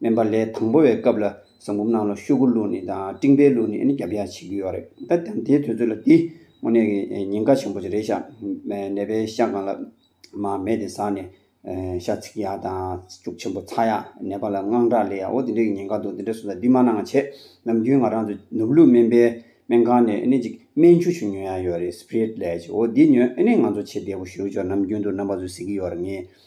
སྨན་པ་ལས་དང་པོ་བའི་སྐབས་ལ་བཟང་བུམ་ནང་ལ་ཤོག་གུ་བླུགས་ནས་དང་སྤྲིང་པའི་བླུགས་ནས་རྒྱབ་ཡར་བྱེད་ཀྱི་ཡོད་རེད་ད་དེའི་དུས་ཚོད་ལ་འདི་དངོས་གནས་ཀྱི་ཉེན་ཁ་ཆེན་པོ་ཞིག་རེད་ཤ་ནད་པའི་ཤ་གང་ལ་མ་མེད་དེ་ཟག་ནས་ཤ་ཚིག་ཡ་དང་ལྕུག་ཆེན་པོ་ཚ་ཡ་ནད་པ་ལ་དངངས་སྐྲག་ལས་ཡའོ་དེ་འདྲའི་ཉེན་ཁ་འདུག་དེ་འདྲའི་སོ་ད་འདི་མ་གནང་བྱས་ནམ་རྒྱུན་ང་རང་ཚོ་ནུབ་ལུགས་སྨན་པའི་སྨན་ཁང་ནས་ཨེ་ཅིག་སྨན་ཆུ་ཆུ་ཉོ་ཡ་ཡོད་རེད་སྤྲེལ་ལད་ཅིག་འོ་འདི་ཉོས་ཨེ་ནས་ང་ཚོ་ཆེ་བདེ་བོ་ཞུ་ཆོག་ནམ་རྒྱུན་དུ་རྣམ་པ་ཚོས་ཟེར་གྱི་ཡོད་རེད་ངས།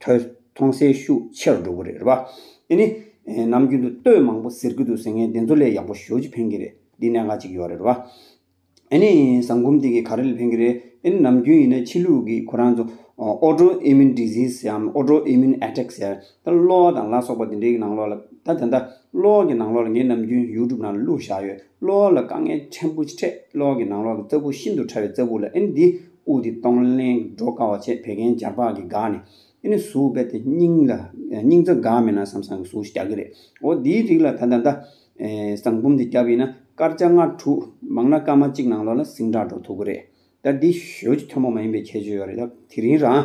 ཐོས་མཐོང་སའི་ཤུགས་ཆེ་རུ་འགྲོ་གི་རེད་རེད་བ། དེ་ནི། ནམ་རྒྱུན་དུ་ལྟོས་མང་པོ་ཟེར་གི་འདུག་ཟེར་མཁན་དེ་ཚོ་ལས་ཡག་པོ་ཞོ་གཅིག་འཕེན་གི་རེད་འདི་གནད་འགག་ཅིག་ཡོད་རེད་རེད་བ། ཨེ་ནི། བཟང་གོམས་དེ་གི་ག་རེ་ལས་འཕེན་གི་རེད། ཨེ་ནི་ནམ་རྒྱུན་ཡིན་ན་ཕྱི་ལུགས་ཀྱི་ཁོ་རང་ཚོ། Auto Immune Disease ཟེར་ཡང Auto Immune Attack ཟེར། ད་གློ་བ་དང་ལ་སོགས་པ་དེ་འདྲའི་ནང་ལོགས་ལ། ད་དེ་འདྲ། གློ་བ་གི་ནང་ལོགས་ལ་ངས་ནམ་རྒྱུན YouTube ནང་ལ་གླུ་བཞག་ཡོད། གློ་བ་ལ་དཀའ་ངལ་ཕྲན་བུ་འཕྲད་གློ་བ་གི་ནང་ལོགས་ཀྱི་རྩ་སྦུག་ཤིན་ཏུ་ཕྲ་བའི་རྩ་སྦུག་ལ་ཨེ་ནི་འདི། དབུགས་དེ་གཏོང་ལེན་འགྲོ་དཀའ་བ་བཅས་བད་ཀན་སྦྱར་བག་གིས་འགགས་ནས། དེ་ནས་ཟུག་བད་དེ་སྙིང་ལ། སྙིང་རྩ་འགགས་མེད་ན་བསམ་བསམ་གྱི་ཟུག་གཞི་རྒྱག་གི་རེད། འོ་དེའི་རིགས་ལ་ད་ད་ལྟ། ཟངས་བུམ་དེ་བརྒྱབ་ཡིན་ན་སྐར་ཆ་ལྔ་དྲུག། མང་ན་སྐར་མ་གཅིག་ནང་ལོགས་ལ་ཟིང་དྲག་འགྲོ་ཐུབ་ཀྱི་རེད། ད་འདི་ཞོལ་གྱི་ཐོན་པོ་མ་ཡིན་པའི་ཁྱད་ཆོས་ཡོད་རེད་ད། དེ་རིང་རང།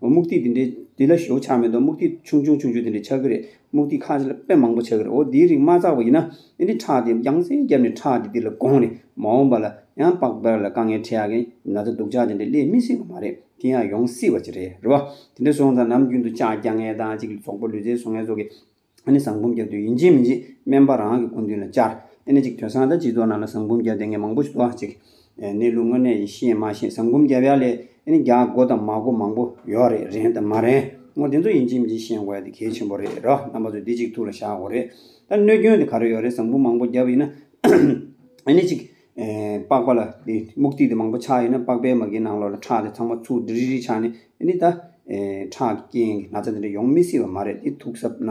སྨུག་ཐིག་འདི་འདྲའི་འདི་ལ་བཞུགས་ཆགས་མི་འདུག་སྨུག་ཐིག་ཆུང་ཆུང་ཆུང་ཆུང་འདི་འདྲའི་ཆགས་ཀྱི་རེད་སྨུག་ཐིག་ཁ་ཤས་དཔེ་མང་པོ་ཆགས་ཀྱི་རེད་འོ་འདིའི་རིགས་མ་བཙགས་པ་ཡིན་ན་འདི་འདྲའི་ཁྲག་འདི་རྒྱང་སེ་བརྒྱབ་ནས་ཁྲག་འདི་འདི་ལ་དགོངས་ནས་མ་འོངས་པ་ལ་ཡང་པགས་པར་ལ་དཀའ་ངལ་འཕྲད་ཡག་གི་ན་ཚ་སྡུག་ཅག་འདི་འདྲའི་སླེབས་མི་སྲིད་པ་མ་རེད་དེ་ཡང་ཡོང་སྲིད་པ་ཅིག་རེད་རེད་བ། དེ་འདྲ་སོང་ཙང་ནམ་རྒྱུན་དུ་ལྕགས་རྒྱག་ངེས་དང་གཅིག་ལ་ཚོགས་པ་ལུས་རྩལ་བཟོ་ངེས་སོགས་ཀྱི། ཨནི་བཟང་འབུམ་བརྒྱབ་དུས་ཡིན་གཅིག་མིན་གཅིག་སྨན་པ་རང་གི་སྐུ་མདུན་ལ་བཅར། ཨནི་གཅིག་དོན་བཟང་དང་སྤྱི་ཚོགས་ནང་ལ་བཟང་འབུམ་བརྒྱབ་དེ་ངས་མང་པོ་ཞིག་བསྟོད་ཨ་ཅིག། ཨནི་ལུས་དངོས་གནས་ཡིད་ཤེས་མ་ཤེས་བཟང་འབུམ་བརྒྱབ་ཡ་ལས་ཨནི་རྒྱག་མགོ་དང་མ་མགོ་མང་པོ་ཡོད་རེད་རན་དང་མ་རན་ངོ་དེ་ཚོ་ཡིན་གཅིག་མིན་གཅིག་ཤེས་མགོ་ཡ་དེ་གལ་ཆེན་པོ་རེད་རོ་རྣམ་པ་ཚོས་དེ་གཅིག་ཐུགས་ལ་བཞག་དགོས་རེད་ད་གནོད་སྐྱོན་དེ་ག་རེ་ཡོད་རེད་བཟང་འབུམ་མང་པོ་བརྒྱབ་ཡིན་ན་ཨནི་གཅིག། པགས་པ་ལ་དེ་སྨུག་ཐིག་དེ་མང་པོ་ཆགས་ཡིན་ན་པགས་པའི་མ་གིའི་ནང་ལོགས་ལ་ཁྲག་དེ་ཚང་མ་ཆུ་དྲི་རི་རི་ཆགས་ནས་ཨནི་ད། ཁྲག་གི་རྐྱེན་གྱིས་ན་ཚ་དེ་འདྲ་ཡོང་མི་སྲིད་པ་མ་རེད་དེ་ཐུགས་གཟབ་ན།